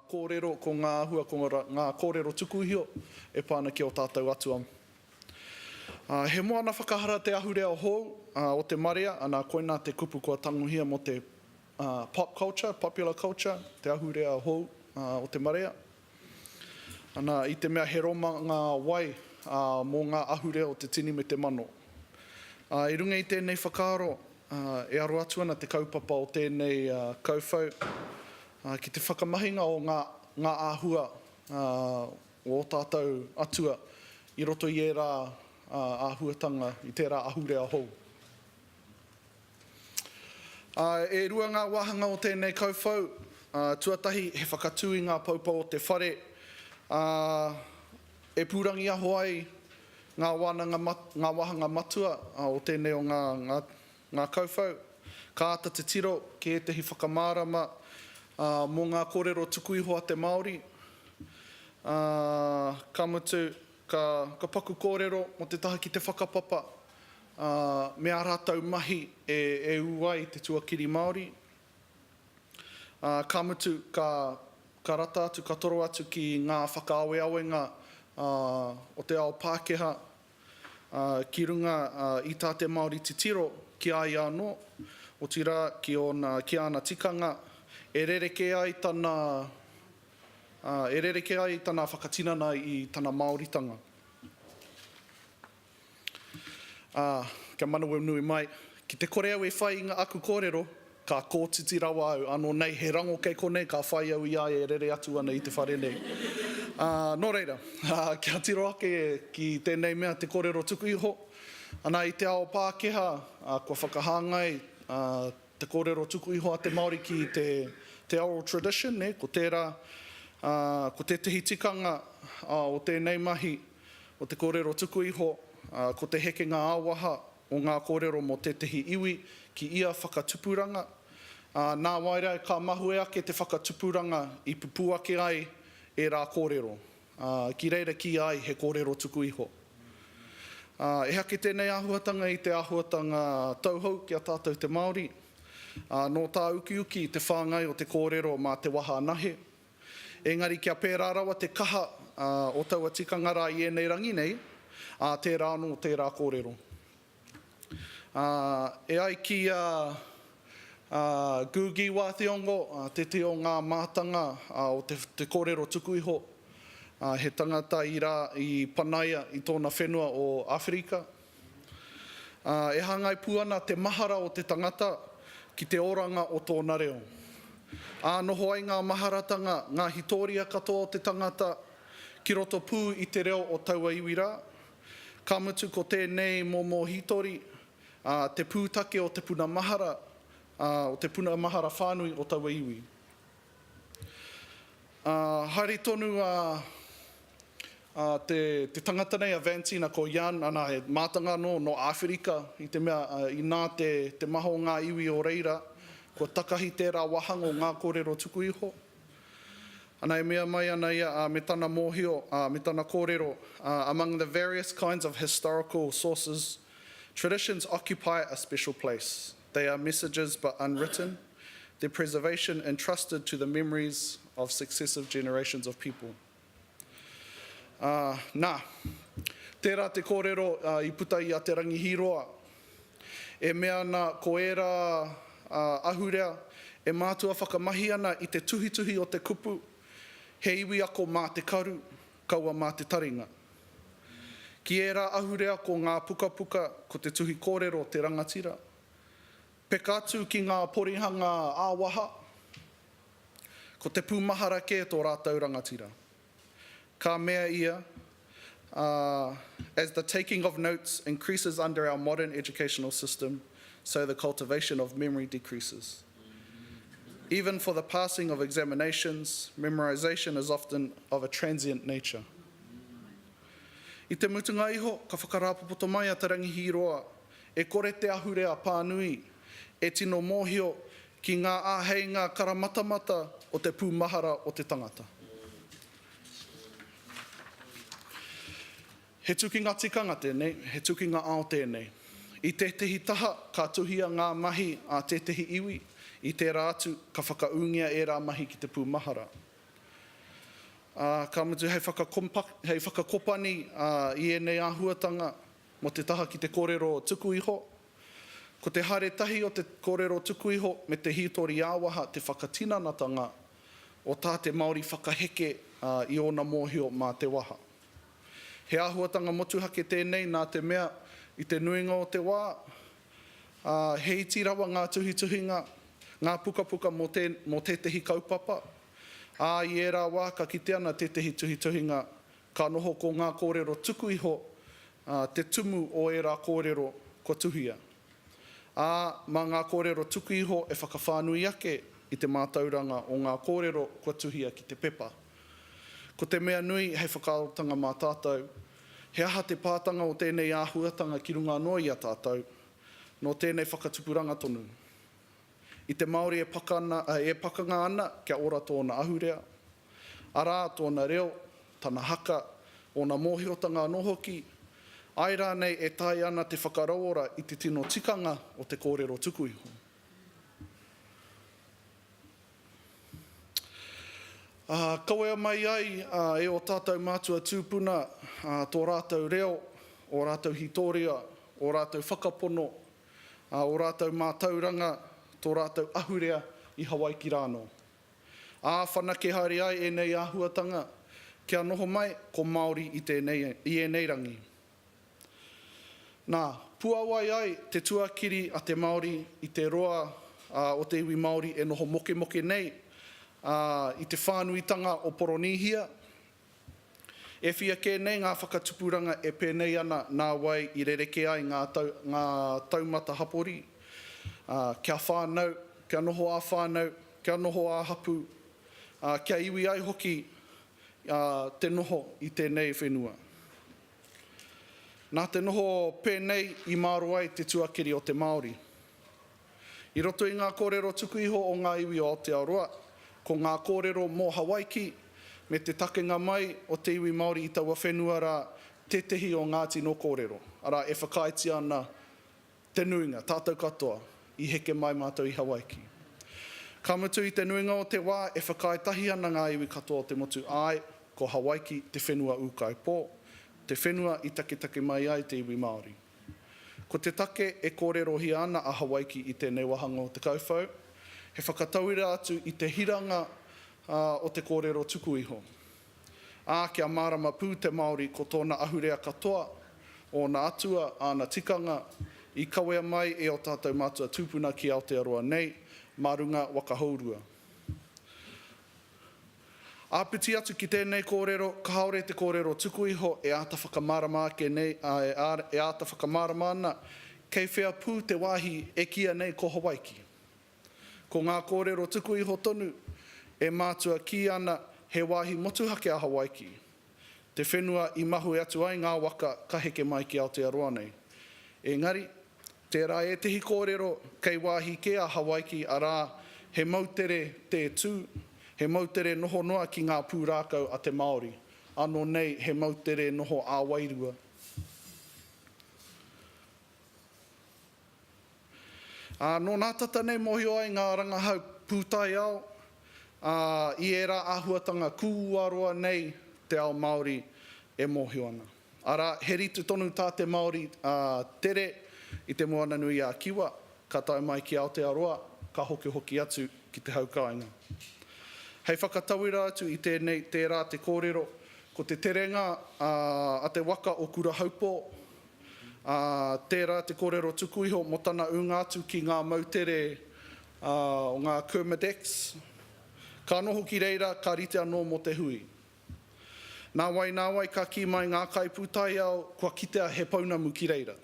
kōrero, ko ngā āhua, ko ngā kōrero tuku iho e pā ana ki ō tātou atua. He moana whakahara te ahurea hou o te marea, ana koinā te kupu kua tangohia mō te pop culture, popular culture, te ahurea hou o te marea. Ana, i te mea he roma ngā wai mō ngā ahurea o te tini me te mano. Ā, i runga i tēnei whakaaro, e aro atu ana te kaupapa o tēnei kauwhau ki te whakamahinga o ngā ngā āhua o ō tātou atua i roto i ērā āhuatanga, i tērā ahurea hou. Ā, e rua ngā wāhanga o tēnei kauwhau, ā, tuatahi he whakatū i ngā poupou o te whare, ā, e pūrangiaho ai ngā wānanga mat, ngā wāhanga matua o tēnei o ngā, ngā, ngā kauwhau. Ka āta titiro ki ētahi whakamārama, ā, mō ngā kōrero tuku iho a te Māori, ā, ka mutu, ka, ka paku kōrero mō te taha ki te whakapapa, Ā, me ā rātou mahi e ū ai te tuakiri Māori, ā, ka mutu, ka rata atu, ka toro atu ki ngā whakaaweawenga o te ao Pākehā ki runga i tā te Māori titiro ki a ia anō, otirā ki ōna, ki āna tikanga, e rerekē ai tana, e rerekē ai tana whakatinana i tana Māoritanga. Ā, kia manawa nui mai, ki te kore au e whai i ngā aku kōrero, ka kōtiti rawa au, ānō nei he rango kei konei ka whai au i a ia e rere atu ana i te whare nei. Ā, nō reira, kia tiro ake ki tēnei mea te kōrero tuku iho, ana i te ao Pākehā, ā, kua whakahāngai te kōrero tuku iho a te Māori ki te oral tradition, nē, ko tērā, ko tētehi tikanga o tēnei mahi, Ko te kōrero tuku iho, ko te hekenga ā-waha o ngā kōrero mō tētehi iwi ki ia whakatupuranga. Nāwai rā, ka mahue ake te whakatupuranga i pupū ake ai ērā kōrero, ki reira kīia ai he kōrero tuku iho. Ehake tēnei āhuatanga i te āhuatanga tauhou ki a tātou te Māori. Nō tā ukiuki te whāngai o te kōrero mā te waha anahe, Engari kia pērā rawa te kaha o taua tikanga rā i ēnei rangi nei, ā, tērā anō tērā kōrero. Ā, e ai ki a Gugi Wā Thiong'o, tētehi o ngā mātanga o te kōrero tuku iho, he tangata i panaia i tōna whenua o Āwherika, Ā, e hāngai pū ana te mahara o te tangata ki te oranga o tōna reo. Ā noho ai ngā maharatanga, ngā hitōria katoa o te tangata, ki roto pū i te reo o taua iwi rā. Ka mutu ko tēnei momo hītori, ā, te pūtake o te puna mahara, ā, o te puna mahara whānui o taua iwi. Ā, haere tonu a, a te, te tangata nei, a Vantina, ko Jan, anā, he mātanga anō nō Āwherika, i te mea, ā, inā te, te maha o ngā iwi o reira, kua takahi tērā wāhanga o ngā kōrero tuku iho. Ana, e mea mai ana ia, ā, me tana mōhio, ā, me tana kōrero, ā, Among the various kinds of historical sources, traditions occupy a special place. They are messages but unwritten, their preservation entrusted to the memories of successive generations of people. Ā, nā, tērā te kōrero i puta i a Te Rangi Hīroa, e mea ana ko ērā ahurea e mātua whakamahi ana i te tuhituhi o te kupu, he iwi ako mā te karu, Kaua mā te taringa. Ki ērā ahurea ko ngā pukapuka, ko te tuhi kōrero te rangatira. Peka atu ki ngā porihanga ā-waha, ko te pūmahara kē tō rātou rangatira. Ka mea ia, As the taking of notes increases under our modern educational system, so the cultivation of memory decreases. Even for the passing of examinations, memorization is often of a transient nature. I te mutunga iho, ka whakarāpopoto mai a Te Rangihīroa, e kore te ahurea pānui e tino mōhio ki ngā āheinga karamatamata o te pūmahara o te tangata. He tukinga tikanga tēnei, he tukinga ao tēnei. I tētehi taha ka tuhia ngā mahi a tētehi iwi, i tērā atu ka whakaūngia ērā mahi ki te pūmahara. Ā, ka mutu hei whakakompaki, hei whakakopani i ēnei āhuatanga mō te taha ki te kōrero tuku iho. Ko te haere tahi o te kōrero tuku iho me te hītori ā-waha te whakatinanatanga o tā te Māori whakaheke i ōna mōhio mā te waha. He āhuatanga motuhake tēnei nā te mea, i te nuinga o te wā, ā, he iti rawa ngā tuhituhinga, ngā pukapuka mō tē, mō tētehi kaupapa, ā, i ērā wā ka kite ana tētehi tuhituhinga ka noho ko ngā kōrero tuku iho, ā, te tumu o ērā kōrero kua tuhia. Ā, mā ngā kōrero tuku iho e whakawhānui ake i te mātauranga o ngā kōrero kua tuhia ki te pepa. Ko te mea nui hei whakaarotanga mā tātou, he aha te pātanga o tēnei āhuatanga ki runga anō i a tātou, nō tēnei whakatupuranga tonu. I te Māori e pakana, e pakanga ana kia ora tōna ahurea, arā, tōna reo, tana haka, ōna mōhiotanga anō hoki, āe rānei e taea ana te whakarauora i te tino tikanga o te kōrero tuku iho. Kawea mai ai e ō tātou mātua tūpuna tō rātou reo, ō rātou hītōria, ō rātou whakapono, ō rātou mātauranga, tō rātou ahurea i Hawaiki rānō. Ā, whanake haere ai ēnei āhuatanga kia noho mai ko Māori i ēnei rangi. Nā, puawai ai te tuakiri a te Māori i te roa o te iwi Māori e noho mokemoke nei i te whānuitanga o Poronīhia. E whia kē nei ngā whakatupuranga e pēnei ana nā wai i rerekē ai ngā taumata hapori, kia whānau, kia noho ā-whānau, kia noho ā-hapū, kia iwi ai hoki te noho i tēnei whenua. Nā te noho pēnei i māro ai te tuakiri o te Māori. I roto i ngā kōrero tuku iho o ngā iwi o Aotearoa, ko ngā kōrero mō Hawaiki me te takenga mai o te iwi Māori i taua whenua rā tētehi o ngā tino kōrero, arā, e whakaaetia ana Te nuinga, tātou katoa, i heke mai mātou i Hawaiki. Ka mutu i te nuinga o te wā, e whakaae tahi ana ngā iwi katoa o te motu, āe, ko Hawaiki te whenua ūkaipō, te whenua i taketake mai ai te iwi Māori. Ko te take e kōrerohia ana a Hawaiki i tēnei wāhanga o te kauwhau, he whakatauira atu i te hiranga o te kōrero tuku iho. Ā, kia mārama pū te Māori ko tōna ahurea katoa, ōna atua, āna tikanga, i kawea mai e ō tātou mātua tūpuna ki Aotearoa nei, mā runga waka hourua. Āpiti atu ki tēnei kōrero, kāore te kōrero tuku iho e āta whakamārama ake nei, āe, e āta whakamārama ana, kei whea pū te wāhi e kīia nei ko Hawaiki? Ko ngā kōrero tuku iho tonu e mātua kī ana he wāhi motuhake a Hawaiki, te whenua i mahue atu ai ngā waka ka heke mai ki Aotearoa nei. Engari, tērā ētehi kōrero kei wāhi kē a Hawaiki arā, he moutere tē tū, he moutere noho noa ki ngā pūrākau a te Māori, ānō nei he moutere noho ā-wairua. Ā, nō nā tata nei mōhio ai ngā rangahau pūtaiao, ā, i ērā āhuatanga kūuaroa nei te ao Māori e mōhio ana. Arā, he rite tonu tā te Māori tere i te Moana-nui-a-Kiwa, ka tae mai ki Aotearoa, ka hokihoki atu ki te haukāinga. Hei whakatauira atu i tēnei, tērā te kōrero, ko te terenga a te waka o Kurahaupō, ā, tērā te kōrero tuku iho mō tana ūnga atu ki ngā moutere o ngā Kermadex, ka noho ki reira ka rite anō mō te hui. Nāwai nāwai ka kī mai ngā kaipūtaiao kua kitea he pounamu ki reira.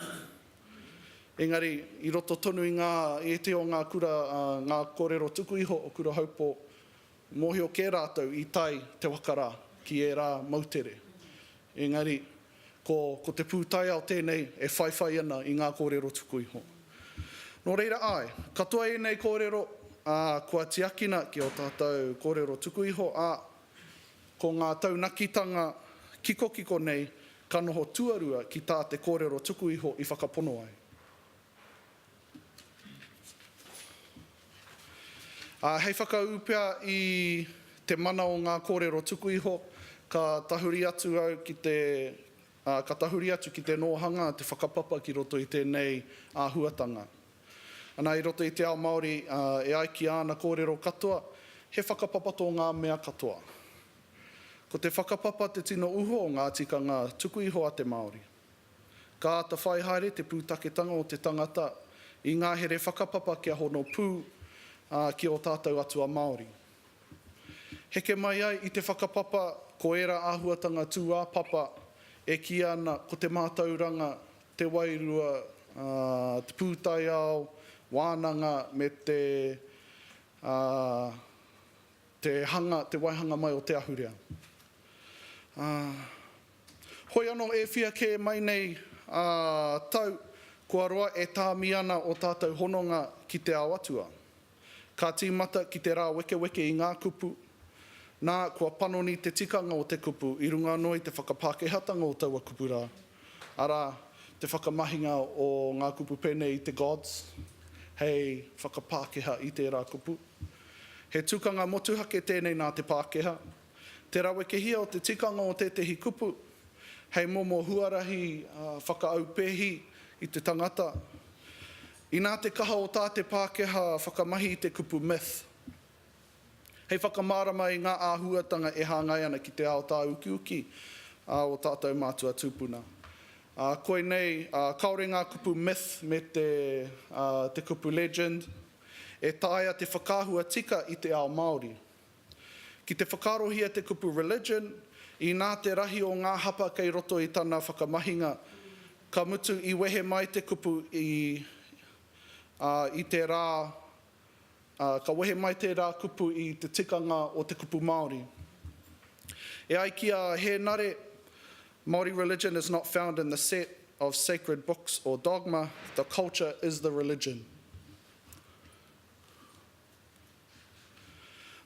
Engari, i roto tonu i ngā ētehi o ngā kura ā ngā kōrero tuku iho o Kurahaupō, mōhio kē rātou i tae te waka rā ki ērā moutere. Engari, Ko, ko te pūtaiao tēnei e whaiwhai ana i ngā kōrero tuku iho. Nō reira, āe, katoa ēnei kōrero, ā, kua tiakina ki ō tātou kōrero tuku iho, ā, ko ngā taunakitanga kikokiko nei ka noho tuarua ki tā te kōrero tuku iho i whakapono ai. Ā, hei whakaū pea i te mana o ngā kōrero tuku iho, ka tahuri atu au ki te, ā, ka tahuri atu ki te nōhanga te whakapapa ki roto i tēnei āhuatanga. Ana, i roto i te ao Māori, ā, e ai ki āna kōrero katoa, he whakapapa tō ngā mea katoa. Ko te whakapapa te tino uho o ngā tikanga tuku iho a te Māori. Ka āta whai haere te pūtaketanga o te tangata i ngā here whakapapa kia hono pū, ā, ki ō tātou atua Māori. Heke mai ai i te whakapapa ko ērā āhuatanga tūāpapa e kīia ana ko te mātauranga, te wairua, te pūtaiao, wānanga me te te hanga, te waihanga mai o te ahurea. Hoi anō e whia kē mai nei a tau kua roa e tāmi ana o tātou hononga ki te ao atua. Ka tīmata ki te rāwekeweke i ngā kupu, nā kua panoni te tikanga o te kupu i runga anō i te whakapākehātanga o taua kupu rā, arā, te whakamahinga o ngā kupu pēnei i te gods hei whakapākeha i tērā kupu. He tukanga motuhake tēnei nā te Pākehā. Te rawekehia o te tikanga o tētehi kupu hei momo huarahi whakaaupēhi i te tangata. Inā te kaha o tā te Pākehā whakamahi i te kupu myth hei whakamārama i ngā āhuatanga e hāngai ana ki te ao tāukiuki a ō tātou mātua tūpuna. Koinei, kāore ngā kupu myth me te kupu legend e taea te whakaahua tika i te ao Māori. Ki te whakaarohia te kupu religion, inā te rahi o ngā hapa kei roto i tana whakamahinga, ka mutu i wehe mai te kupu i, ā, i te rā, ā, ka wehe mai tērā kupu i te tikanga o te kupu Māori. E ai ki a Hēnare, Māori religion is not found in the set of sacred books or dogma, the culture is the religion.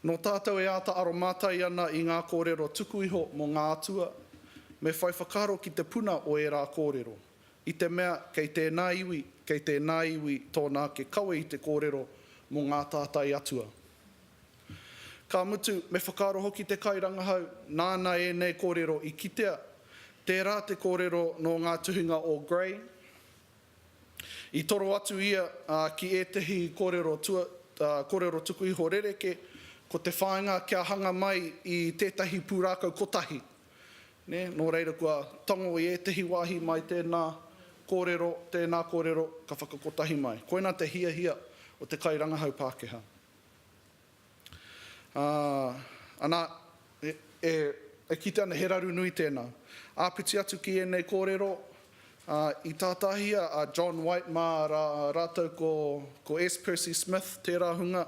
Nō tātou e āta aromātai ana i ngā kōrero tuku iho mō ngā atua, me whai whakaaro ki te puna o ērā kōrero, i te mea kei tēnā iwi, kei tēnā iwi tōna ake kawe i te kōrero mō ngā tātai atua. Ka mutu, me whakaaro hoki te kairangahau nāna ēnei kōrero i kitea, tērā te kōrero nō ngā tuhinga o Gray, I toro atu ia ki ētehi kōrero tuku iho rerekē, ko te whāinga kia hanga mai i tētahi pūrākau kotahi. Nō reira kua tango i ētehi wāhi mai tēnā kōrero, tēnā kōrero ka whakakotahi mai. Koinā te hiahia o te kairangahau Pākehā. Ā, anā, e, e kite ana he raru nui tēnā. Āpiti atu ki ēnei kōrero, ā, i tātāhia a John White mā rā rātou ko, ko S. Percy Smith tērā hunga,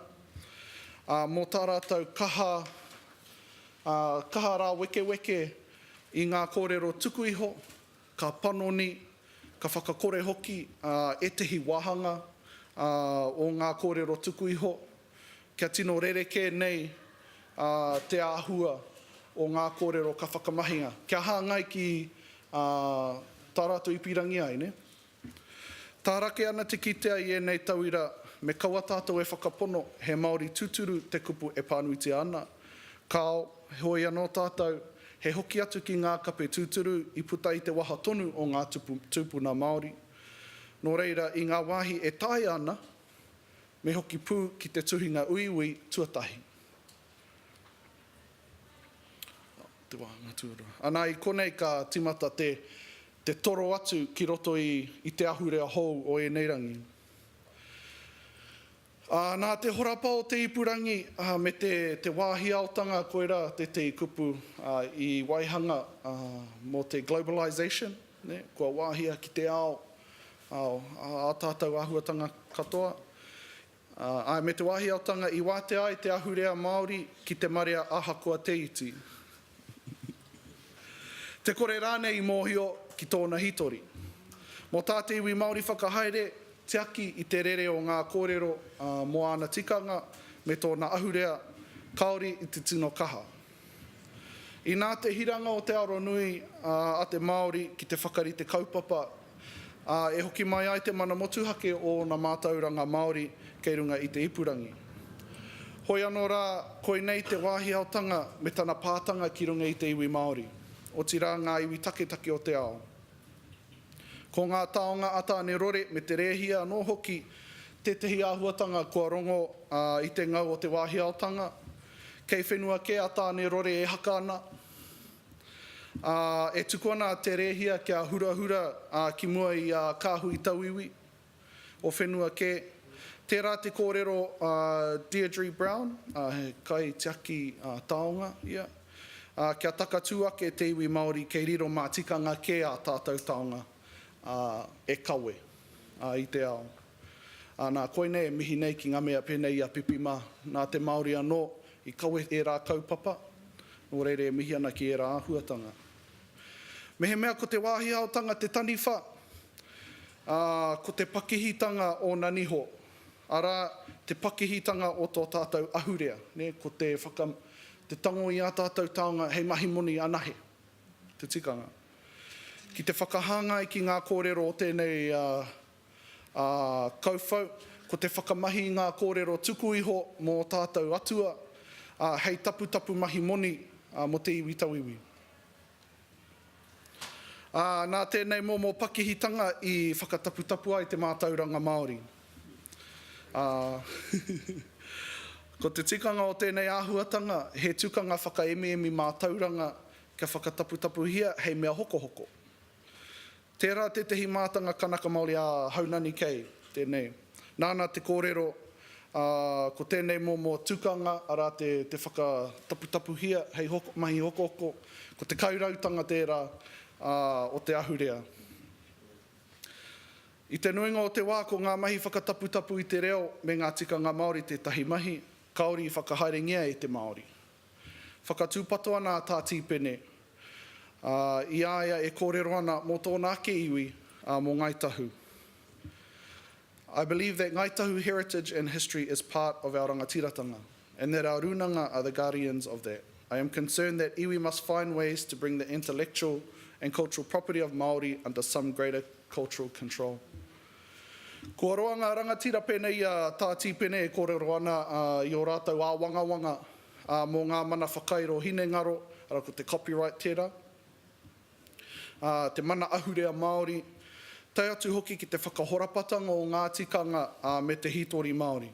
ā, mō tā rātou kaha, ā, kaha rāwekeweke i ngā kōrero tuku iho, ka panoni, ka whakakore hoki ētehi wāhanga o ngā kōrero tuku iho, kia tino rerekē nei te āhua o ngā kōrero ka whakamahinga, kia hāngai ki tā rātou i pīrangi ai. Tārake ana te kitea i ēnei tauira me kaua tātou e whakapono he Māori tuturu te kupu e pānuitia ana, kāo, Heoi anō tātou, he hoki atu ki ngā kape tūturu i puta i te waha tonu o ngā tupu tūpuna Māori. Nō reira, i ngā wāhi e taea ana, me hoki pū ki te tuhinga uiui tuatahi. Te wāhanga tuarua. Anā, i konei ka tīmata te te toro atu ki roto i i te ahurea hou o ēnei rangi. Ā, nā te horapa o te ipurangi me te wāhi aotanga koirā tētehi kupu i waihanga mō te globalisation, kua wāhia ki te ao ā tātou āhuatanga katoa. Āe, me te wāhi aotanga i wātea ai te ahurea Māori ki te marea ahakoa te iti. Te kore rānei i mōhio ki tōna hitori. Mō tā te iwi Māori whakahaere, tiaki i te rere o ngā kōrero mō āna tikanga me tōna ahurea, kāore i te tino kaha. Inā te hiranga o te aro nui a te Māori ki te whakarite kaupapa, ā, e hoki mai ai te mana motuhake o ōna mātauranga Māori kei runga i te ipurangi. Hoi anō rā, koinei te wāhi aotanga me tana pātanga ki runga i te iwi Māori, otirā ngā iwi taketake o te ao. Ko ngā taonga a Tāne-rore me te rēhia anō hoki tētehi āhuatanga kua rongo i te ngau o te wāhi aotanga. Kei whenua kē a Tāne-rore e haka ana. Ā, e tuku ana a Te Rēhia kia hurahura ki mua i a Kāhui Tauiwi o whenua kē. Tērā te kōrero a Deirdre Brown, he kaitiaki taonga ia, kia takatū ake te iwi Māori kei riro mā tikanga kē ā tātou taonga e kawe i te ao. Ā, nā, koinei e mihi nei ki ngā mea pēnei i a Pipi mā, nā te Māori anō i kawe ērā kaupapa, nō reira e mihi ana ki ērā āhuatanga. Mehemea ko te wāhi haotanga te taniwha, ā, ko te pakihitanga ōna niho, arā, te pakihitanga o tō tātou ahurea, nē, ko te whaka, te tango i ā tātou taonga hei mahi moni anahe, te tikanga. Ki te whakahāngai ki ngā kōrero o tēnei Ā, kauwhau, ko te whakamahi i ngā kōrero tuku iho mō ō tātou Atua, ā, hei taputapu mahi moni, ā, mō te iwi tauiwi. Ā, nā tēnei momo pakihitanga i whakataputapu ai te mātauranga Māori. Ā, ko te tikanga o tēnei āhuatanga, he tukanga whakaemiemi mātauranga kia whakataputapuhia hei mea hokohoko. Tērā tētehi mātanga Kanaka Māori a Haunani kei, tēnei. Nāna te kōrero, ā, ko tēnei momo tukanga, arā te, te whakataputapuhia hei hoko, mahi hokohoko, ko te kairautanga tērā, ā, o te ahurea. I te nuinga o te wā ko ngā mahi whakataputapu i te reo me ngā tikanga Māori tētahi mahi kāore i whakahaerengia e te Māori. Whakatūpato ana a Tā Tīpene, ā, i a ia e kōrero ana mō tōna ake iwi, ā, mō Ngāi Tahu. I believe that Ngāi Tahu heritage and history is part of our rangatiratanga, and that our rūnanga are the guardians of that. I am concerned that iwi must find ways to bring the intellectual and cultural property of Māori under some greater cultural control. Kua roa ngā rangatira pēnei i a Tā Tīpene e kōrero ana i ō rātou āwangawanga mō ngā mana whakairo hinengaro, arā ko te copyright tērā, te mana ahurea Māori, tae atu hoki ki te whakahorapatanga o ngā tikanga me te hītori Māori.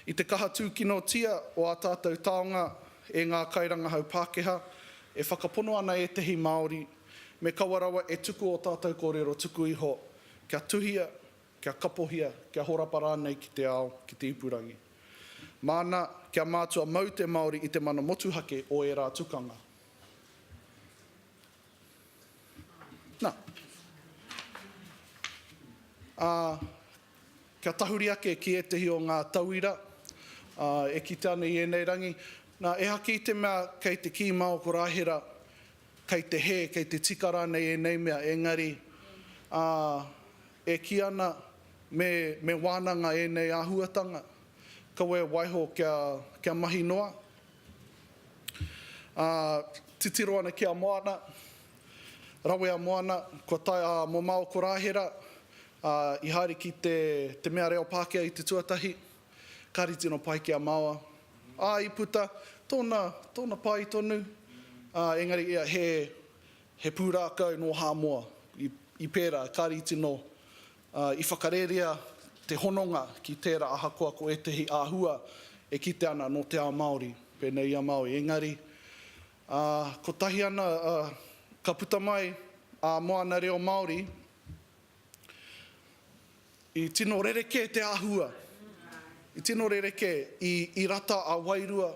I te kaha tūkinotia o ā tātou taonga e ngā kairangahau Pākehā, e whakapono ana ētehi Māori, me kaua rawa e tuku ō tātou kōrero tuku iho, kia tuhia, kia kapohia, kia horapa rānei ki te ao, ki te ipurangi. Māna, kia mātua mau te Māori i te mana motuhake o ērā tukanga. Nā. Ā, Kia tahuri ake ki ētehi o ngā tauira e kite ana i ēnei rangi. Nā, ehake i te mea kei te kī mā ō korāhera, kei te hē, kei te tika rānei ēnei mea, engari, ā, e kī ana me, me wānanga ēnei āhuatanga, kaua e waiho kia, kia mahi noa. Ā, titiro ana ki a Moana, rawe a Moana, kua tae, ā, mō mā ō korāhera, Ā, i haere ki te, te mea reo Pākehā i te tuatahi, kāre i tino pai ki a māua. Ā, i puta, tōna, tōna pai tonu, ā, engari ia he, he pūrākau nō Hāmoa, i, i pērā, kāre i tino, ā, i whakarērea te hononga ki tērā ahakoa ko ētehi āhua e kite ana nō te ao Māori, pēnei i a Māui. Engari, ā, kotahi ana, ā, ka puta mai ā moana reo Māori, I tino rerekē te āhua, i tino rerekē, i rata a Wairua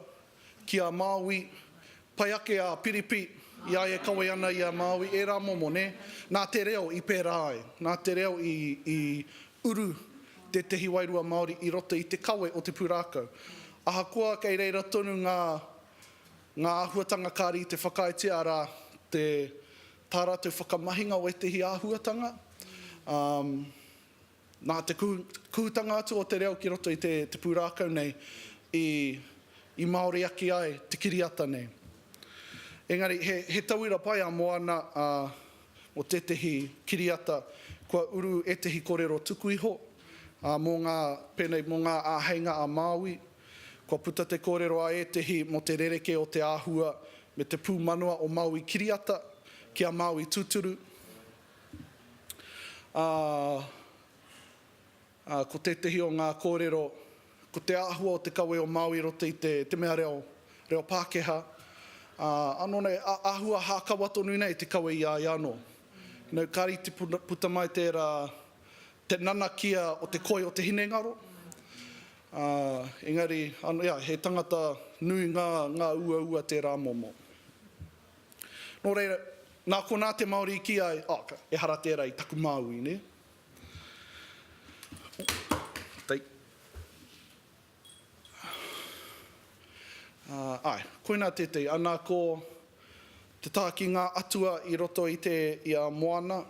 ki a Māui, pai ake a Piripi i a ia e kawe ana i a Māui, ērā momo, nē? Nā te reo i pērā ai, nā te reo i uru tētehi wairua Māori i roto i te kawe o te pūrākau. Ahakoa kei reira tonu ngā āhuatanga kāre i te whakaaetia, arā, te. Tā rātou whakamahinga o ētehi āhuatanga, ā, nā te kuhutanga atu o te reo ki roto i te pūrākau nei, i, i māori ake ai te kiriata nei. Engari, he, he tauira pai a Moana, ā, mō tētehi kiriata, kua uru ētehi korero tuku iho, ā, mō ngā, pēnei, mō ngā āheinga a Māui, Kua puta te kōrero a ētehi mō te rerekē o te āhua me te pūmanawa o Māui kiriata ki a Māui tūturu, ā, ko tētehi o ngā kōrero, ko te āhua o te kawe o Māui i roto i te te mea reo, reo Pākehā, ā, anō nei, āhua hākawa tonu nei te kawe i a ia anō. You know, kāre i puta mai tērā, te nanakia o te koi o te hinengaro, Ā, engari, ānō ia, he tangata nui ngā, ngā uaua tērā momo. Nō reira, nā konā te Māori i kī ai, oh, ehara tērā i taku māui, nē? Take. Ā, āe, koinā tētehi, ana ko te taha ki ngā atua i roto i te, i a Moana.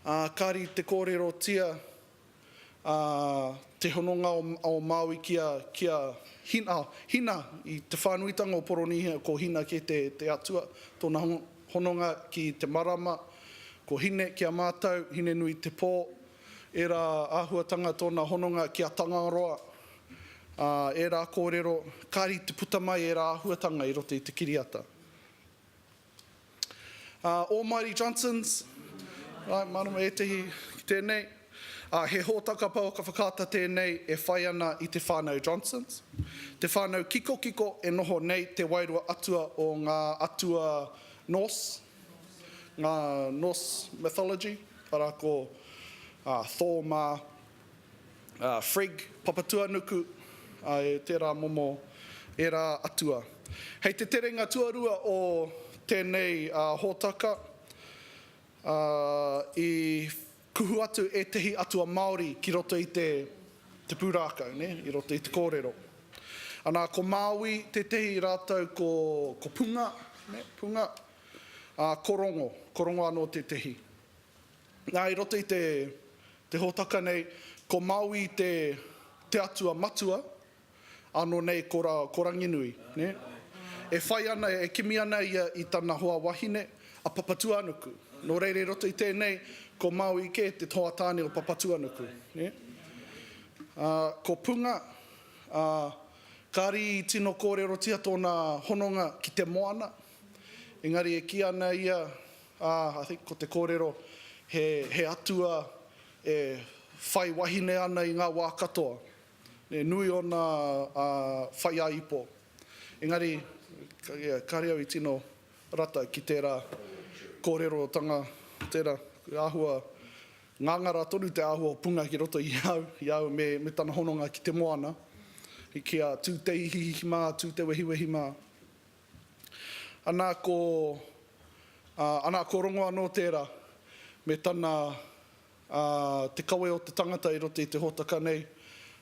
Ā, kāri te kōrerotia ā, te hononga o Māui ki a, ki a Hina, ā, Hina, i te whānuitanga o Poronīhia ko Hina kē te, te atua, tōna hononga ki te marama, ko Hine ki a mātou, Hine-nui-te-pō, ērā āhuatanga tōna hononga ki a Tangaroa, ā, ērā kōrero, kāre i te puta mai ērā āhuatanga i roto i te kiriata. Almighty Johnsons, right, marama ētehi ki tēnei. He hōtaka pouaka whakaata tēnei e whai ana i te whānau Johnsons. Te whānau kikokiko e noho nei te wairua atua o ngā atua Norse, ngā Norse mythology, arā ko Thor mā, Frigg, Papatuanuku, a, e tērā momo, ērā atua. Hei te terenga tuarua o tēnei hōtaka, i kuhu atu ētehi atua Māori ki roto i te te pūrākau, nē, i roto i te kōrero. Anā, ko Māui tētehi rātou ko, ko Punga, nē, Punga, ā, ko Rongo, ko Rongo anō tētehi. Nā, i roto i te, te hōtaka nei, ko Maui te, te atua matua, ānō nei ko, ra, ko Ranginui, nē? E whai ana, e kimi ana ia i tana hoa wahine, a Papatuanuku. Nō reira i roto i tēnei, ko Maui kē te hoa tāne o Papatuanuku, nē? Ā, ko Punga, ā, kāri i tino kōrerotia tōna hononga ki te moana, engari e kī ana ia, Ā, I think ko te kōrero, he, he Atua e whai wahine ana i ngā wā katoa. Nē, nui ōna whaiāipo. Engari, yeah, kāre au i tino rata ki tērā kōrerotanga, tērā, he āhua, ngāngara tonu te āhua o punga ki roto i au, i au me, me tana hononga ki te moana, ki a Tūteihihi mā, Tūtewehiwehi mā. Ana ko, ā, ana ko Rongo anō tērā, me tana, ā, te kawe o te tangata i roto i te hōtaka nei,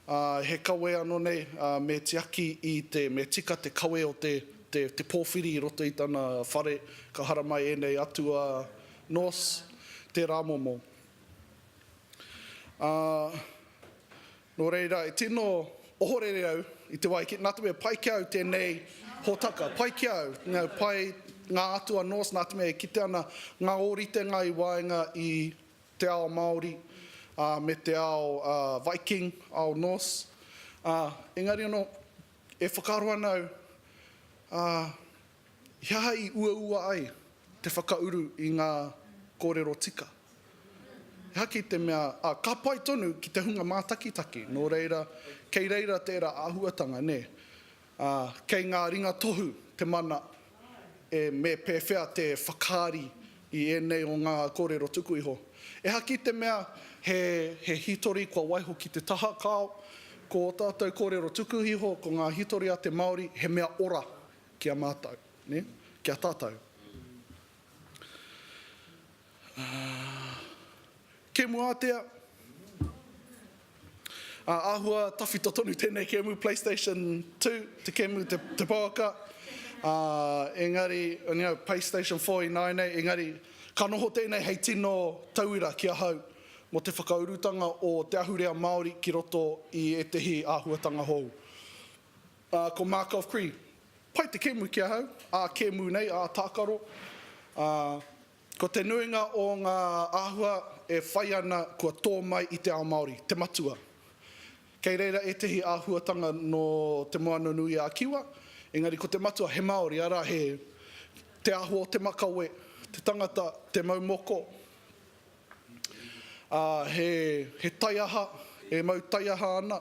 ā, he kawe anō nei, ā, me tiaki i te, me tika te kawe o te, te, te pōwhiri i roto i tana whare, ka haramai ēnei atua Norse tērā momo. Ā, Nō reira, e tino ohorere au i te wā i kī, nā te mea pai ki a au tēnei hōtaka, pai ki a au, pai ngā atua Norse nā te mea e kite ana ngā ōritenga i waenga i te ao Māori me te ao Viking, ao Norse. Engari anō, e whakaaro ana au, He aha i uaua ai te whakauru i ngā kōrero tika? He aha ki te mea, ā, ka pai tonu ki te hunga mātakitaki, nō reira, kei reira tērā āhuatanga, nē? Ā, kei ngā ringa tohu te mana e me pēwhea te whakaari i ēnei o ngā kōrero tuku iho. E aha ki te mea, he, he hītori kua waiho ki te taha, kāo, ko ō tātou kōrero tuku iho, ko ngā hītori a te Māori, he mea ora ki a mātou, nē? Ki a tātou. Kēmu ātea. Āhua tawhito tonu tēnei kēmu, PlayStation 2, te kēmu, te pouaka. Engari, PlayStation 4 i nāia nei, engari, ka noho tēnei hei tino tauira ki ahau mō te whakaurutanga o te ahurea Māori ki roto i ētehi āhuatanga hou. Ā, ko Markov Cree, Pai te kēmu ki ahau, ā kēmu nei, ā tākaro. Ā, ko te nuinga o ngā āhua e whai ana kua tō mai i te ao Māori, te matua. Kei reira ētehi āhuatanga nō Te Moananui-a-Kiwa, engari ko te matua he Māori, arā, he te āhua o te makawe, te tangata, te mau moko, Ā, he, he taiaha, e mau taiaha ana.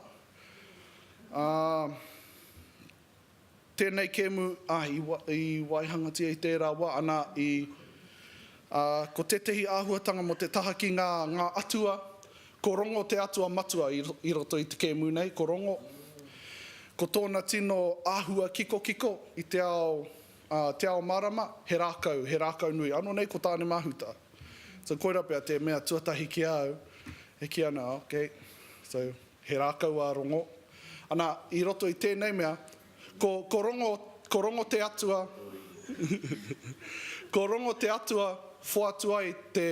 Ā, tēnei kēmu, ā, i, i waihangatia i tērā wā, anā, i, ā, ko tētehi āhuatanga mō te taha ki ngā, ngā atua, ko Rongo te atua matua i, i roto i te kēmu nei, ko Rongo. Ko tōna tino āhua kikokiko i te ao, A, Te Ao Marama, he rākau, he rākau nui. Ano nei ko Tāne-mahuta. So koira pea te mea tuatahi ki a au e ki ana, ok, so he rākau a Rongo. Ana, i roto i tēnei mea, ko, ko Rongo, ko Rongo te atua, ko Rongo te atua whoatu ai te,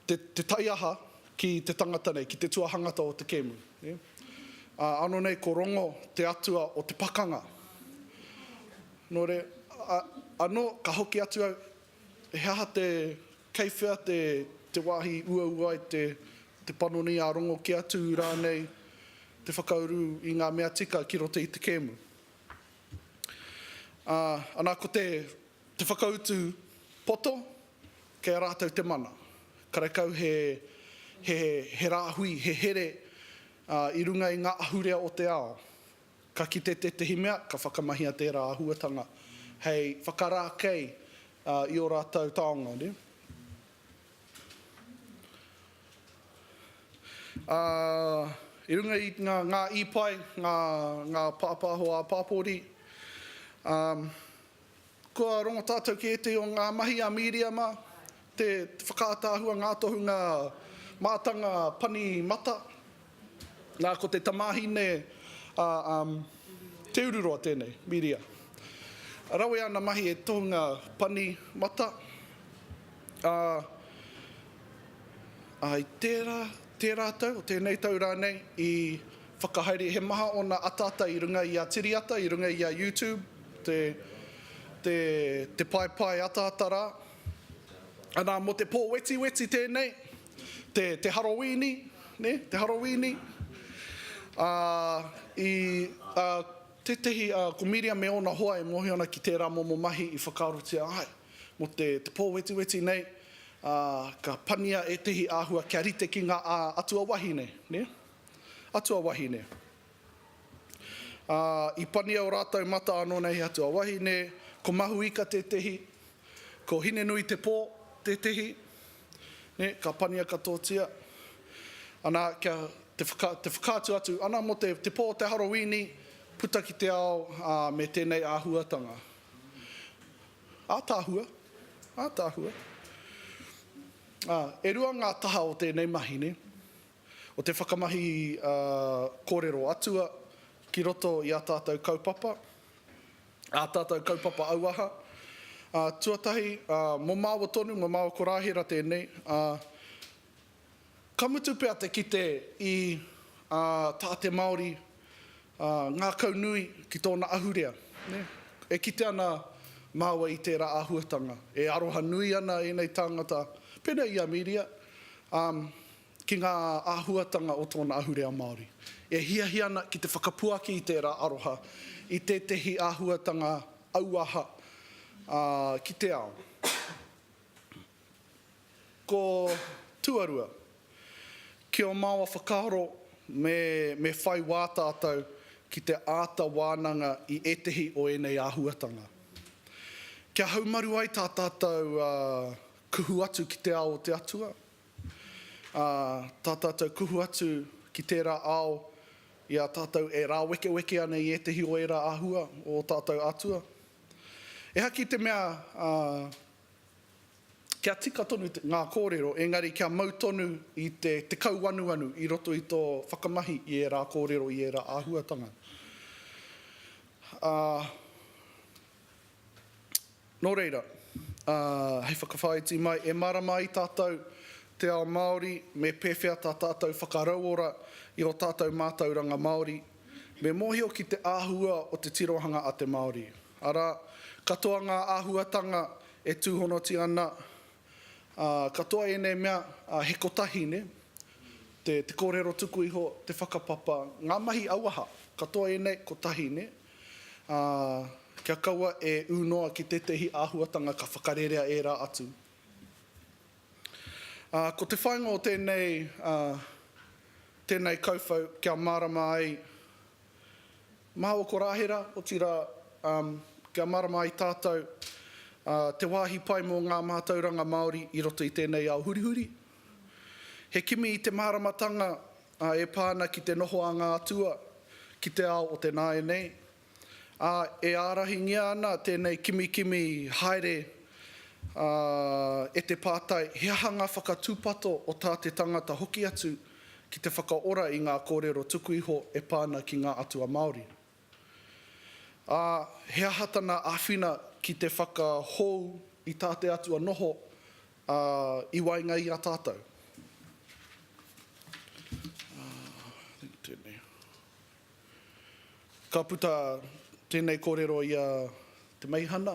te taiaha ki te tangata nei, ki te tuahangata o te kēmu. Ano nei ko Rongo te atua o te pakanga. No re, ano ka hoki atu au, he aha te, kei whea te, te wahi i uaua ai te, te panoni i a Rongo ki a Tū rānei te whakauru i ngā mea tika ki roto i te kēmu. Ana ko te, Te whakautu poto, kei a rātou te mana. Karekau he, he, he rāhui, he here i runga i ngā ahurea o te ao. Ka kite tētehi mea, ka whakamahia tērā āhuatanga hei whakarākei i ō rātou taonga. Ā, i runga i ngā, ngā īpae, ngā, ngā pāpāho ā-pāpori, ā, Kua rongo tātou ki ētehi o ngā mahi a Mīriama, te whakaataahua ngā tohunga mātanga pani mata. Nā, ko te tamāhine a um, Te Ururoa tēnei, Mīria. Rawe ana mahi e tohunga pani mata. Ā, ā, i tērā, tērā tau, o tēnei tau rānei, i Whakahaere he maha ōna ataata i runga i a TiriAta, i runga i a YouTube, te, te, te paepae ataata rā. Anā, mō te pō wetiweti tēnei, te, te Harowīni, nē, te Harowīni. Ā, i, ā, tētehi, ā, ko Miriam me ōna hoa e mōhio ana ki tērā momo mahi i whakaarotia ai. Mō te, te pō wetiweti nei, ā, ka pania ētehi āhua kia rite ki ngā, ā, atua wahine, nē. Atu a wahine. Ā, i pania ō rātou mata anō nei he atu a wahine, ko Mahuika tētehi, ko Hinenuitepō tētehi, nē, ka pania katoatia. Ana, kia, te whaka, te whakaatu atu, ana mō te, te pō o te Harowīni, puta ki te ao, ā, me tēnei āhuatanga. Ātaahua, ātaahua. Ā, e rua ngā taha o tēnei mahi, nē. o te whakamahi kōrero atua ki roto i ā tātou kaupapa, ā tātou kaupapa auaha. Tuatahi, mō māua tonu, mō māua korāhera tēnei, ka mutu pea te kite i tā te Māori ngākau nui ki tōna ahurea. E kite ana māua i tērā āhuatanga, e aroha nui ana ēnei tāngata, pēnei i a Miria, ki ngā āhuatanga o tōna ahurea Māori. E hiahia ana ki te whakapuaki i tērā aroha i tētehi āhuatanga auaha ki te ao. Ko tuarua, ki ō māua whakaaro me whai wā tātou ki te āta wānanga i ētehi o ēnei āhuatanga. Kia haumaru ai tā tātou kuhu atu ki te ao o te Atua. Ā, tā tātou kuhu atu ki tērā ao i a tātou e rāwekeweke ana i ētehi o ērā āhua o ō tātou Atua. Ehara ki te mea kia tika tonu ngā kōrero, engari kia mau tonu i te kauanuanu i roto i tō whakamahi i ērā kōrero, i ērā āhuatanga. Ā. Nō reira, hei whakawhāiti mai, e mārama ai tātou te ao Māori, me pēwhea tā tātou whakarauora i ō tātou mātauranga Māori, me mōhio ki te āhua o te tirohanga a te Māori. Arā, katoa ngā āhuatanga e tūhonotia ana, ā, katoa ēnei mea, ā, he kotahi, nē? Te, te kōrero tuku iho, te whakapapa, ngā mahi auaha, katoa ēnei, kotahi, nē? Ā, kia kaua e ū noa ki tētehi āhuatanga ka whakarerea ērā atu. Ā, ko te whāinga o tēnei, ā, tēnei kauwhau kia mārama ai mā ō korāhera, otirā, ā, kia mārama ai tātou, ā, te wāhi pai mō ngā mātauranga Māori i roto i tēnei ao hurihuri. He kimi i te māramatanga ā, e pā ana ki te noho a ngā atua ki te ao o te nāianei, ā, e ārahingia ana tēnei kimikimi haere e te pātai he aha ngā whakatūpato o tā te tangata hoki atu ki te whakaora i ngā kōrero tuku iho e pā ana ki ngā atua Māori. Ā, he aha tana āwhina ki te whakahou i tā te Atua noho i waenga i a tātou? Ka puta tēnei kōrero i a Te Meihana,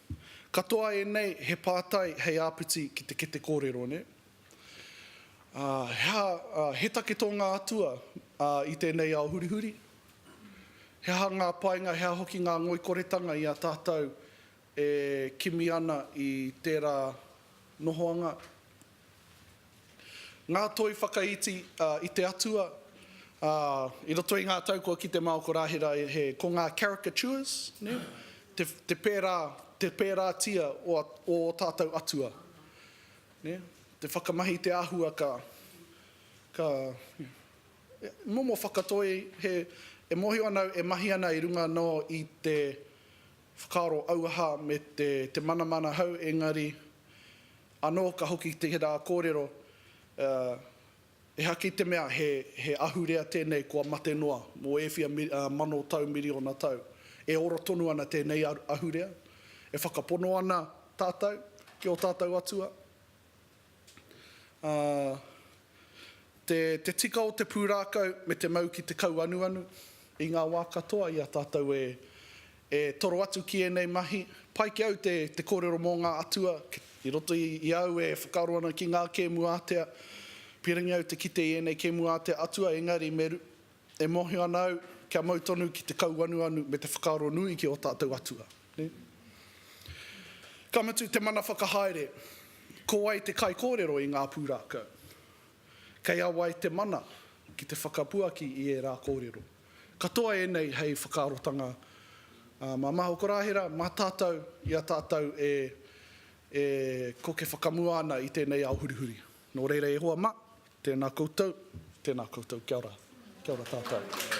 Katoa ēnei he pātai hei āpiti ki te kete kōrero, nē? He aha, he take tō ngā atua i tēnei ao hurihuri? He aha ngā painga, he aha hoki ngā ngoikoretanga i a tātou e kimi ana i tērā nohoanga, Ngā toi whakaiti i te Atua i roto i ngā tau kua kite mā oko rā ko ngā caricatures, te pērā, te pērātia o ō tātou Atua. Te whakamahi i te āhua ka, ka, momo whakatoi he, e mōhio ana au e mahi ana i runga anō i te whakaaro auaha me te manamana hou engari Anō ka hoki tērā kōrero, ehaki te mea he ahurea tēnei kua mate noa mō ēwhia mano tau, miriona tau. E ora tonu ana tēnei ahurea, e whakapono ana tātou ki ō tātou atua, ā. Te tika o te pūrākau me te mau ki te kauanuanu i ngā wā katoa i a tātou e toro atu ki ēnei mahi. Pai ki au te kōrero mō ngā atua i roto i au e whakaaro ana ki ngā kēmu ātea. Piringi au te kite i ēnei kēmu ātea atua engari me E mōhio ana au, kia mau tonu ki te kauanuanu me te whakaaro nui ki ō tātou atua. Ka mutu te mana whakahaere, ko wai te kaikōrero i ngā pūrākau? Kei a wai te mana ki te whakapuaki i ērā kōrero? Katoa ēnei hei whakaarotanga mā Maho Korāhera, mā tātou i a tātou e koke whakamua ana i tēnei ao hurihuri. Nō reira e hoa mā, tēnā koutou, tēnā koutou, kia ora, kia ora tātou.